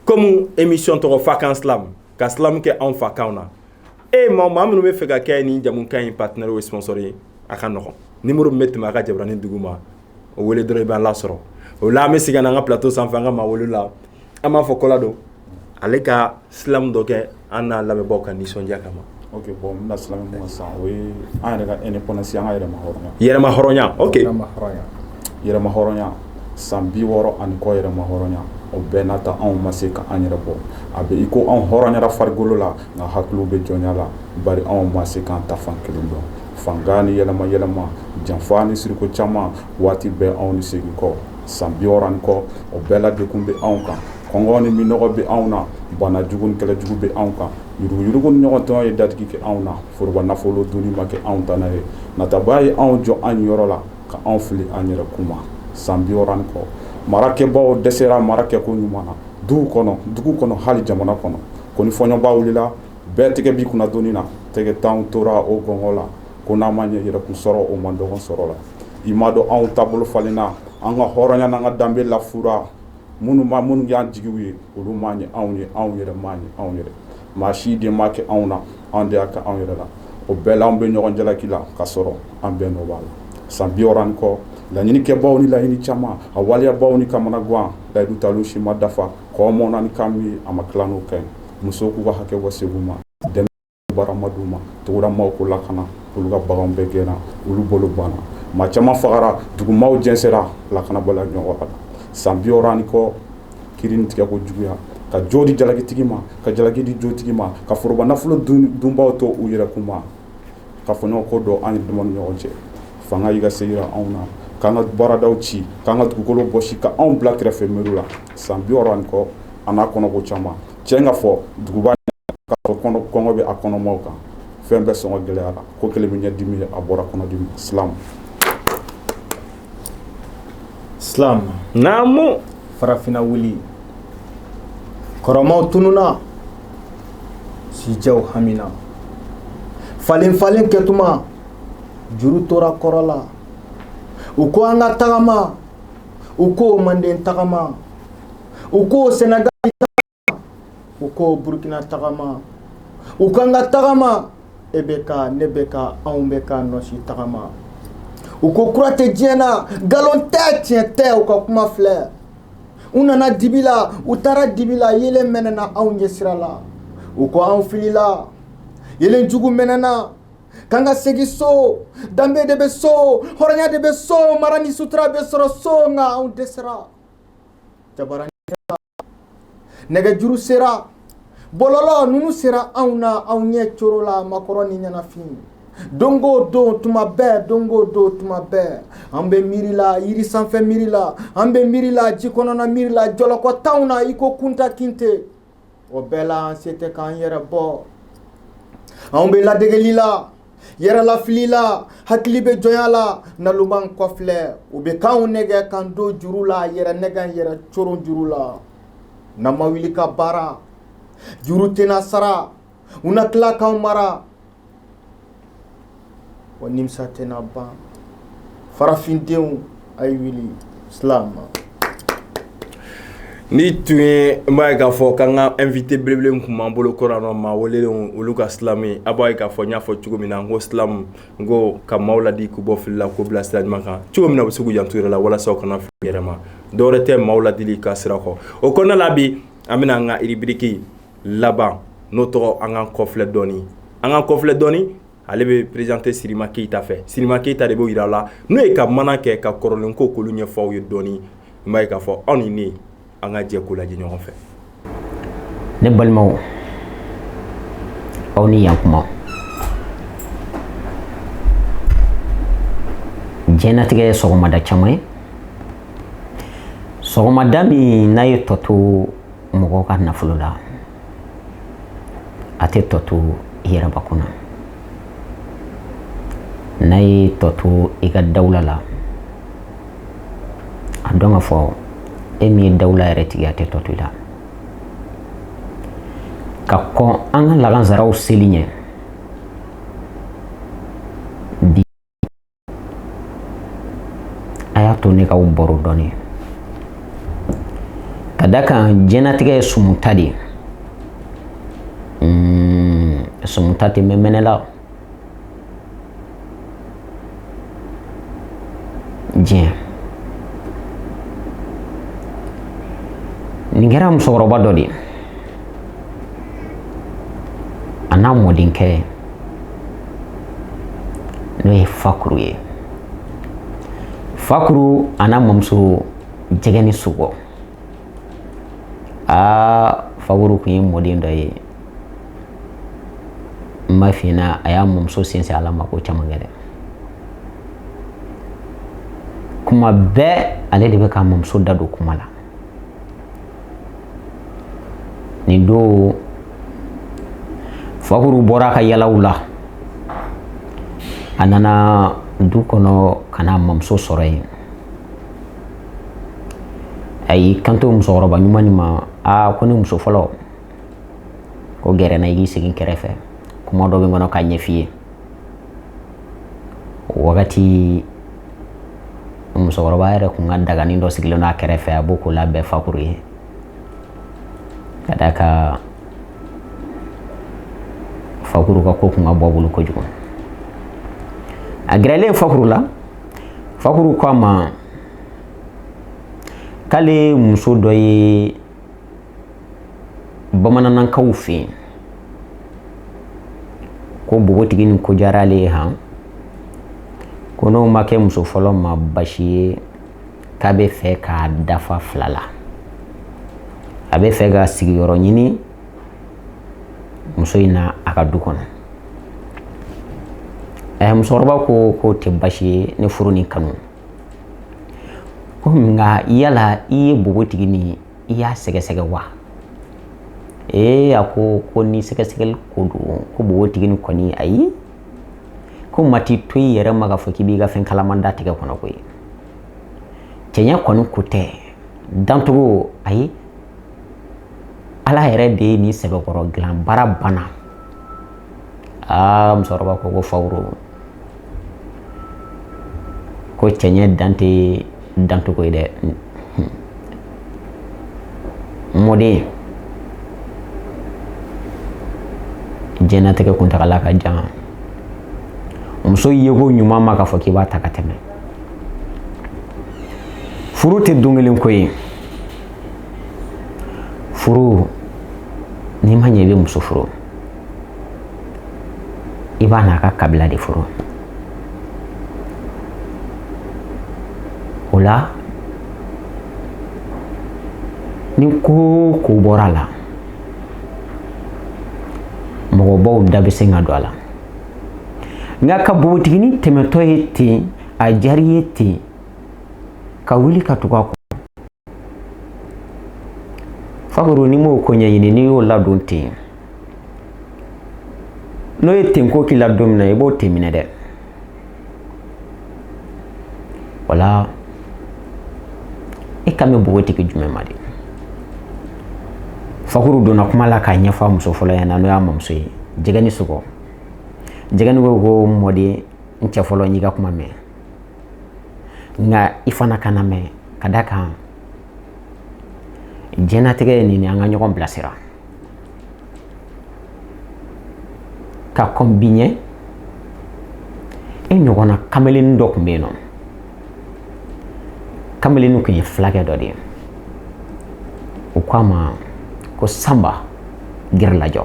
comme émission tɔgɔ Fakan Slam ka slam kɛ anw fakan na et maa minnu b'a fɛ ka kɛ nin jamukan in partenaire ou sponsor ye a ka nɔgɔn numéro bɛ tɛmɛ a ka jabaranin duguma o weele dɔ i bɛ la sɔrɔ o la an bɛ segin an ka pto san an ka ma wolo la an b'a fɔ kɔ don ale ka silamɛ dɔ kɛ an n'a lamɛnbagaw ka nisɔndiya kama ma yɛlɛmaya san bi wɔɔrɔ ani kɔ yɛlɛmaya o bɛɛ n'a taa anw ma se k'an yɛrɛ bɔ a bɛ i ko anw hɔrɔnyara farikolo la nka hakili bɛ jɔnya la ba anw ma se k'an ta fan kelen dɔn fanga ni yɛlɛma yɛlɛma janfa ni siriko caman waati bɛɛ anw ni segin kɔ san bi wɔɔrɔ ani kɔ o bɛɛ la degun bɛ anw kan kɔngɔ ni minnɔgɔ bɛ anw na bana jugu ni kɛlɛjugu bɛ anw kan yuruguyurugu ni ɲɔgɔn tɔn ye datigi kɛ anw na foroba nafolo dunni ma kɛ anw dan ye nataba ye anw jɔ an yɔrɔ la ka anw fili an yɛrɛ kun ma san bi wɔɔrɔ ani kɔ marakɛbaw dɛsɛra marakɛko ɲuman na du kɔnɔ dugu kɔnɔ hali jamana kɔnɔ ko ni fɔɲɔba wulila Bɛɛ tɛgɛ b'i kunna doni na tɛgɛntan tora o gɔngɔ la ko n'a ma ɲɛ yɛrɛkun sɔrɔ o man dɔgɔ sɔrɔ la i m'a dɔn anw taabolo falenna an ka hɔrɔnya an ka danbe lafura maa minnu y'an jigi ye olu m'a ɲɛ anw ye anw yɛrɛ m'a ɲɛ anw yɛrɛ maa si den m'a kɛ anw na anw de y'a kɛ anw yɛrɛ la o bɛɛ la an bɛ ɲɔgɔn jalaki la ka sɔrɔ an bɛɛ nɔ b'a la san bi wɔɔrɔ ani kɔ laɲinikɛbaw ni laɲini caman a waleyabaw ni kamanagan layidu talen si ma dafa kɔ mɔn ni kan min a ma tila n'o kɛ musow k'u ka hakɛ bɔ segu ma dɛmɛ baara ma d'u ma togodamaaw ko lakana olu ka bagan bɛɛ gɛnna olu bolo banna maa caman fagara dugumaaw jɛnsɛra lakanabaliya ɲɔgɔn la san bi wɔɔrɔ ani kɔ kiri tigɛ ko juguya ka jo di jalakitigi ma ka jalaki di jotigi ma ka foroba nafolo dunbaw to u yɛrɛ kun ma ka fɔɲɔgɔnkɔ don an yɛrɛ dama ni ɲɔgɔn cɛ fanga y'i ka se jira anw na k'an ka baaradaw ci k'an ka dugukolo bɔsi ka anw bila kɛrɛfɛ miiri la san bi wɔɔrɔ ani kɔ a n'a kɔnɔko caman cɛ in ka fɔ duguba kɔngɔ bɛ a kɔnɔmaaw kan fɛn bɛɛ sɔngɔ gɛlɛyara ko kelen bɛ ɲɛdimi a bɔra kɔnɔdimi slam Silamu naamu farafinna wuli kɔrɔmaw tununna sijɛw hamina falen falen kɛtuma juru tora kɔrɔ la u ko an ka tagama u ko manden tagama u ko sɛnɛga u ko burukina tagama u k'an ka tagama e bɛ ka ne bɛ ka anw bɛ ka nɔsi tagama u ko kura tɛ diɲɛ na nkalon tɛ tiɲɛ tɛ u ka kuma filɛ u nana dibi la u taara dibi la yeelen mɛnɛna anw ɲɛ sira la u ko anw filila yeelen jugu mɛnɛna k'an ka segin so danbe de bɛ so hɔrɔnya de bɛ so mara ni sutura bɛ sɔrɔ so nka anw dɛsɛra jabaranin nɛgɛjuru sera bɔlɔlɔ ninnu sera anw na anw ɲɛ coro la makɔrɔ ni ɲɛnafin don o don tuma bɛɛ don o don tuma bɛɛ an bɛ miiri la yiri sanfɛ miiri la an bɛ miiri la ji kɔnɔna miiri la jɔlɔkɔ t'an na i ko kunta kinte o bɛɛ la an se tɛ k'an yɛrɛ bɔ anw bɛ ladegeli la Yɛrɛlafili la hakili bɛ jɔnya la naloman kɔfilɛ u bɛ k'an nɛgɛn k'an don juru la yɛrɛ nɛgɛn yɛrɛ coron juru la n'an ma wuli ka baara juru tɛna sara u na tila k'an mara wa nimisa tɛna ban farafindenw nin tun ye n b'a ye k'a fɔ k'an ka invité belebele tun b'an bolo kɔrɔ n'o maa welelen olu ka silamu ye a b'a ye k'a fɔ n y'a fɔ cogo min na n ko silamu n ko ka maaw ladi k'u bɔ fili la k'u bila sira ɲuman kan cogo min na u bɛ se k'u janto yɛrɛ la walasa u kana fili yɛrɛ ma dɔwɛrɛ tɛ maaw ladili ka sira kɔ o kɔnɔna la bi an bɛna an ka rubrique laban n'o tɔgɔ an k'an kɔfilɛ dɔɔni an k'an kɔfilɛ dɔɔni ale bɛ présenté sirima keyita fɛ sirima keyita de b'o jira aw la n'o ye ka maana kɛ ka kɔrɔlen ko k'olu ɲɛfɔ aw ye dɔɔni n b'a ye k'a fɔ aw ni ne an ka jɛ ko lajɛ ɲɔgɔn fɛ ne balimaw aw ni yan kuma jɛnatigɛ ye sɔgɔmada caman ye sɔgɔmada min n'a ye tɔ to mɔgɔw ka nafolo la a tɛ tɔ to i yɛrɛbakun na n'a ye tɔ to i ka dawula la a dɔn k'a fɔ e min ye dawula yɛrɛ tigi a tɛ tɔ to i la ka kɔn an ka lagansaraw seli ɲɛ a y'a to ne k'aw baro dɔɔni ka d'a kan jɛnatigɛ ye sumuta de ye hmm, sumuta tɛ mɛn mɛnɛ la diɲɛ nin kɛra musokɔrɔba dɔ de ye a n'a mɔdenkɛ n'o ye fakuru ye fakuru a n'a mamuso jɛgɛ ni sogɔ aa fakuru kun ye mɔden dɔ ye n b'a f'i ɲɛna a y'a mamuso sinsin ala ma ko caman kɛ dɛ kuma bɛɛ ale de bɛ k'a mamuso da don kuma la nin don fakuru bɔra a ka yalaw la a nana du kɔnɔ ka n'a mamuso sɔrɔ yen a y'i kanto musokɔrɔba ɲuman nin ma aa ko ne muso fɔlɔ ko gɛrɛ n na i k'i sigi n kɛrɛfɛ kuma dɔ bɛ n kɔnɔ k'a ɲɛf'i ye wagati musokɔrɔba yɛrɛ kun ka daganin dɔ sigilen don a kɛrɛfɛ a b'o ko labɛn fakuru ye ka d'a kan fakuru ka ko kun ka bon a bolo kojugu a gɛrɛlen fakuru la fakuru ko a ma k'ale muso dɔ ye bamanankaw fɛ yen ko npogotigi nin ko diyara ale ye han ko n'o ma kɛ muso fɔlɔ ma basi ye k'a bɛ fɛ k'a dafa fila la a bɛ fɛ ka sigiyɔrɔ ɲini muso in na a ka du kɔnɔ musokɔrɔba ko k'o tɛ basi ye ne furu ni kanu ko nka yala i ye npogotigi min ye i y'a sɛgɛsɛgɛ wa ee a ko ko ni sɛgɛsɛgɛli ko don ko npogotigi nin kɔni ayi ko mati to i yɛrɛ ma k'a fɔ k'i b'i ka fɛn kalaman da tigɛ kɔnɔ koyi cɛɲɛ kɔni ko tɛ dancogo ayi ala yɛrɛ de ye nin sɛbɛkɔrɔ dilan baara banna aa musokɔrɔba ko ko fakuru ko cɛɲɛ dan tɛ dancogo ye dɛ mɔden jɛnatigɛ kuntagala ka jan muso yeko ɲuman ma k'a fɔ k'i b'a ta ka tɛmɛ furu tɛ don kelen ko ye furu n'i ma ɲɛ i bɛ muso furu i b'a n'a ka kabila de furu o la ni ko o ko bɔra a la mɔgɔbaw da bɛ se ka don a la nka ka npogotiginin tɛmɛtɔ ye ten a diyara i ye ten ka wuli ka tugu a kɔ fakuru n'i m'o ko ɲɛɲini n'i y'o ladon ten n'o ye ten ko k'i la don min na i b'o ten minɛ dɛ wala i kan bɛ npogotigi jumɛn ma de fakuru donna kuma la k'a ɲɛfɔ a muso fɔlɔ ɲɛna n'o y'a mamuso ye jɛgɛni sogo jɛgɛni ko ko mɔden n cɛ fɔlɔ n y'i ka kuma mɛn nka i fana ka n lamɛn ka da kan diɲɛnatigɛ ye nin an ka ɲɔgɔn bilasira ka kɔn bi ɲɛ e ɲɔgɔnna kameleni dɔ tun bɛ yen nɔ kameleni tun ye fulakɛ dɔ de ye u ko a ma ko sanba gɛrɛlajɔ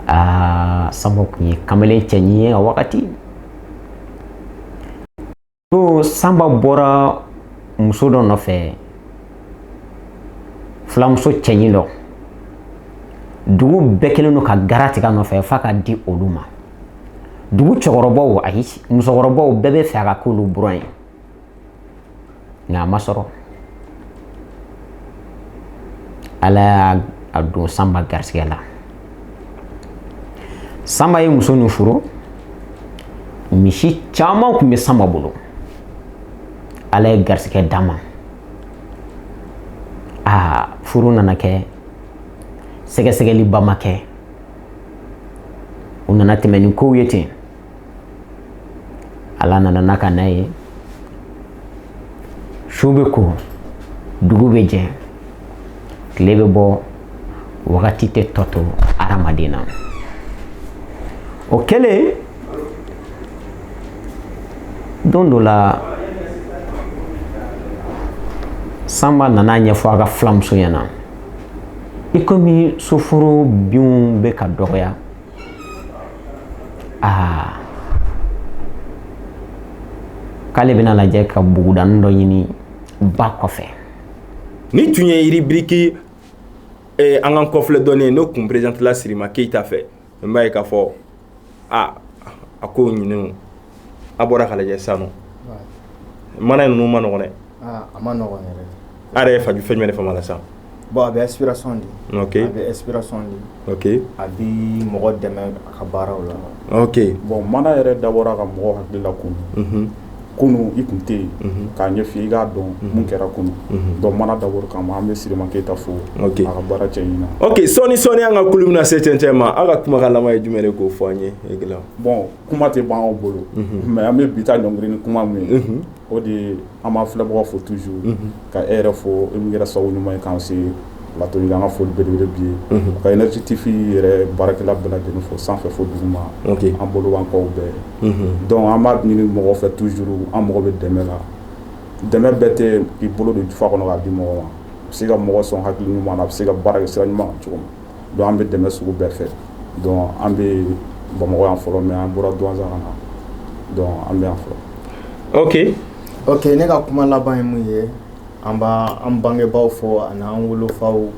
aa sanba tun ye kamalen cɛɲi ye a wagati Ko sanba bɔra muso dɔ nɔfɛ filamuso cɛɲi dɔ dugu bɛɛ kɛlen don ka garan tigɛ a nɔfɛ f'a ka di olu ma dugu cɛkɔrɔbaw ayi musokɔrɔbaw bɛɛ b'a fɛ a ka k'olu buran ye nka a ma sɔrɔ ala y'a don sanba garisɛgɛ la sanba ye muso nin furu misi caman tun bɛ sanba bolo ala ye garisɛgɛ d'a ma aa furu nana kɛ sɛgɛsɛgɛliba ma kɛ u nana tɛmɛ ni kow ye ten ala nana n'a ka na ye su bɛ ko dugu bɛ jɛ tile bɛ bɔ wagati tɛ tɔ to adamaden na o kɛlen don dɔ la sanba nana ɲɛfɔ a ka filamuso ɲɛna i komi soforo binw bɛ ka dɔgɔya aa k'ale bɛna lajɛ ka bugudanin dɔ ɲini ba kɔfɛ nin tun ye ribiriki eh, an k'an kɔfilɛ dɔɔnin ye n'o kun perezantila sirima keyita fɛ n b'a ye k'a fɔ a a ko ɲinenw a bɔra ka lajɛ sisan maana ninnu ma nɔgɔ a ma yɛrɛ ye fɛn jumɛn de faamu a la sa bon a bɛ inspiration di a bɛ inspiration di a bɛ mɔgɔ dɛmɛ a ka baaraw la bon maana yɛrɛ dabɔra ka mɔgɔ hakili lakunun kunun i tun tɛ yen k'a ɲɛfɔ i k'a dɔn minnu kɛra kunun donc maana dabɔra o kama an bɛ sirama keyita fo a ka baara cɛ ɲi sɔɔni sɔɔni an ka kulun bɛna se cɛncɛn ma aw ka kumakan laban ye jumɛn de k'o fɔ an ye bon kuma tɛ ban an bolo mais an bɛ bi ta ɲɔngiri ni kuma min ye o de an b'an filɛbagaw fo toujours ka e yɛrɛ fo e min kɛra sababu ɲuman ye k'an se plateau an ka foli belebele b'i ye ka Énergie TV yɛrɛ baarakɛla bɛɛ lajɛlen fo sanfɛ fo duguma an bolo b'an kɔ bɛɛ donc an b'a ɲini mɔgɔ fɛ toujours an mago bɛ dɛmɛ la dɛmɛ bɛɛ tɛ i bolo don jufa kɔnɔ k'a di mɔgɔ ma a bɛ se ka mɔgɔ sɔn hakili ɲuman na a bɛ se ka baara sira ɲuman cogo ma donc an bɛ dɛmɛ sugu bɛɛ fɛ donc an bɛ bamakɔ yan fɔlɔ mais an bɔra Douentza ka na donc an bɛ yan fɔlɔ oke oke ne ka kuma laban ye mun ye an b' an bangebaaw fo ani an wolofaw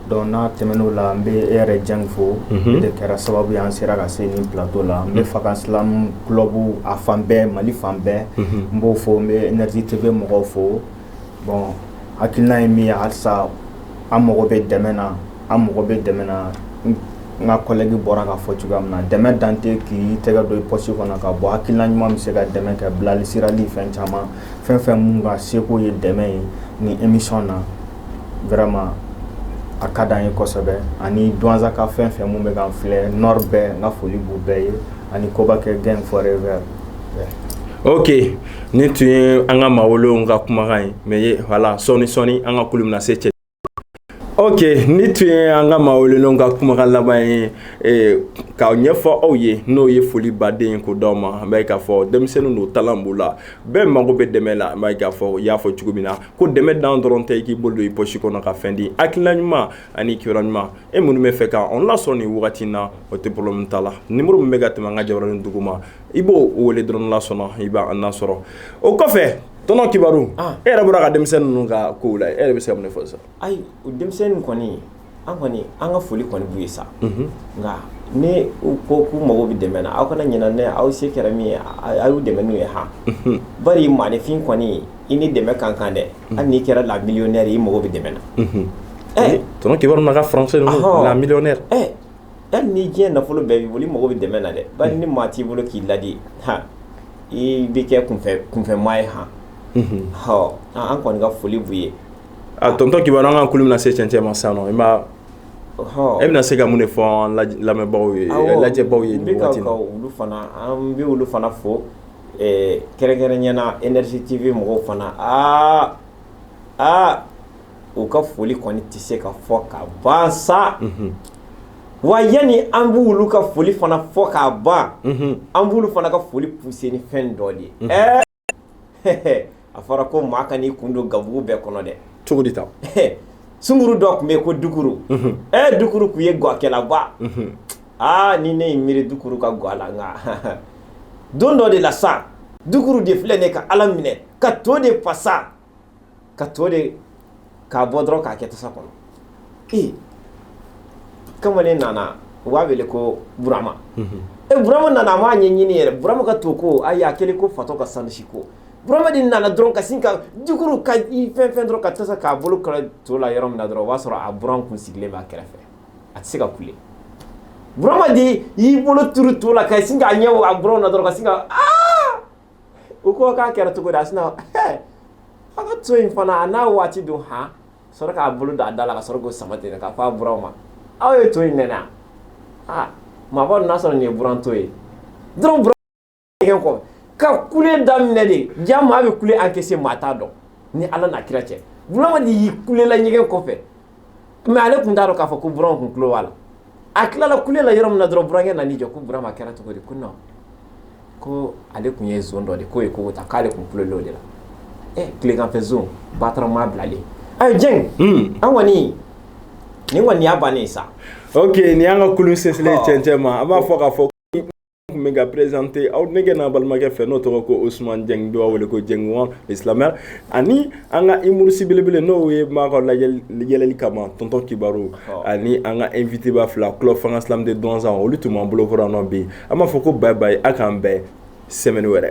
donc n'a tɛmɛn'o la n bɛ e yɛrɛ Dieng fo e de kɛra sababu ye an sera ka se nin plateau la n bɛ fa ka silamɛ club a fan bɛɛ mali fan bɛɛ n b'u fo n bɛ Énergie TV mɔgɔw fo bon hakilina ye min ye halisa an mago bɛ dɛmɛ na an mago bɛ dɛmɛ na n ka collègue bɔra k'a fɔ cogoya min na dɛmɛ dan tɛ k'i tɛgɛ don i poche kɔnɔ k'a bɔ hakilina ɲuman bɛ se ka dɛmɛ kɛ bilasirali ni fɛn caman fɛn fɛn minnu ka seko ye dɛmɛ ye nin émission na vraiment a ka di an ye kosɛbɛ ani Douentzakaw fɛn fɛn minnu bɛ k'an filɛ Nord bɛɛ n ka foli b'u bɛɛ ye ani Kobakɛ Gang Forever oke Nin tun ye an ka maa welelen ka kumakan ye mais voilà sɔɔni sɔɔni an ka kulun na se cɛ oke nin tun ye an ka maa welelen ka kumakan laban ye eh, k'a ɲɛfɔ aw ye n'o ye foliba de ye k'o d'aw ma an b'a ye k'a fɔ denmisɛnninw don talent b'u la bɛɛ mago bɛ dɛmɛ la an b'a ye k'a fɔ i y'a fɔ cogo min na ko dɛmɛ dan dɔrɔn tɛ i k'i bolo don i poche kɔnɔ ka fɛn di hakilila ɲuman ani kibaru ɲuman e minnu b'a fɛ k'an lasɔrɔ nin wagati na o tɛ problème t'a la numéro min bɛ ka tɛmɛ an ka jabaranin duguma i b'o weele dɔrɔn n'Ala sɔnna i b'an lasɔrɔ o kɔfɛ tɔnɔ kibaru e yɛrɛ bɔra ka denmisɛnnin ninnu ka ko lajɛ e yɛrɛ bɛ se ka mun fɔ sa ayi o denmisɛnnin kɔni an kɔni an ka foli kɔni b'u ye sa nka n'u ko k'u mago bɛ dɛmɛ na aw kana ɲinɛ aw se kɛra min ye a y'u dɛmɛ n'u ye han bari maaninfin kɔni ye i ni dɛmɛ ka kan dɛ hali n'i kɛra la millionnaire ye i mago bɛ dɛmɛ na ɛ tɔnɔ kibaru na ka français la millionnaire hali ni diɲɛ nafolo bɛɛ b'i bolo i mago bɛ dɛmɛ na dɛ ba ni maa t'i bolo k'i ladi h i bɛ kɛ kunfɛmaa ye h hɔ an kɔni ka foli b'u ye a tonton kibaru an ka kulu bɛna se cɛncɛn ma sa nɔ i hɔ e bɛna se ka mun de fɔ an lamɛnbagaw ye lajɛbaw ye olu fana an bɛ olu fana fo kɛrɛnkɛrɛnnenya la énergie tv mɔgɔw fana aa aa u ka foli kɔni tɛ se ka fɔ ka ban sa wa yanni an b'olu ka foli fana fɔ ka ban an b'olu fana ka foli pousser ni fɛn dɔ de ye a fɔra ko maa kan'i kun don gabugu bɛɛ kɔnɔ dɛ cogo di ta sunkuru dɔ tun bɛ yen ko dukuru ɛ dukuru tun ye gakɛlaba aa ni ne y'i miiri dukuru ka ga la nka don dɔ de la sa dukuru de filɛ ne ka ala minɛ ka to de fasa ka to de k'a bɔ dɔrɔn k'a kɛ tasa kɔnɔ ee kamalen nana u b'a wele ko burama e burama nana a m'a ɲɛɲini yɛrɛ burama ka to ko ayi a kɛlen ko fatɔ ka sansi ko burama de nana dɔrɔn ka sin ka dukuru ka i fɛn fɛn dɔrɔn ka tasa k'a bolo kala to la yɔrɔ min na dɔrɔn o b'a sɔrɔ a buran kun sigilen b'a kɛrɛfɛ a tɛ se ka kule burama de y'i bolo turu to la ka sin k'a ɲɛ a buran na dɔrɔn ka sin ka aa u ko k'a kɛra cogo di a sinna a ka to in fana a n'a waati don h sɔrɔ k'a bolo da a da la ka sɔrɔ k'o sama ten k'a fɔ a buran ma aw ye to in nɛnɛ a ma bɔ n'a sɔrɔ nin ye buran to ye dɔrɔn buran ɲɛgɛn kɔ ka kule daminɛ de ja maa bɛ kule encaisser maa t'a dɔn ni ala n'a kira cɛ burama de y'i kulela ɲɛgɛn kɔfɛ mais ale tun t'a dɔn k'a fɔ ko buran tun tulo b'a la a tilala kule la yɔrɔ min na dɔrɔn burankɛ nan'i jɔ ko burama kɛra cogo di ko non ko ale tun ye zone dɔ de k'o ye ko ta k'ale tun kulela o de la ɛ tileganfɛ zone bataramaa bilalen ayi jɛng an kɔni nin kɔni y'a bannen sa ok nin y'an ka kulu selen cɛncɛn ma an b'a fɔ k'a fɔ tun bɛ ka présenter aw denkɛ n'a balimakɛ fɛ n'o tɔgɔ ko osuman jɛng dɔw b'a wele ko jɛng wan slameur ani an ka humoriste belebele n'o ye maa ka yɛlɛli kama tonton kibaru ani an ka invité ba fila club fanga slam de dɔnsan olu tun b'an bolokɔrɔ nɔ bi an b'a fɔ ko bye bye aw k'an bɛn semaine wɛrɛ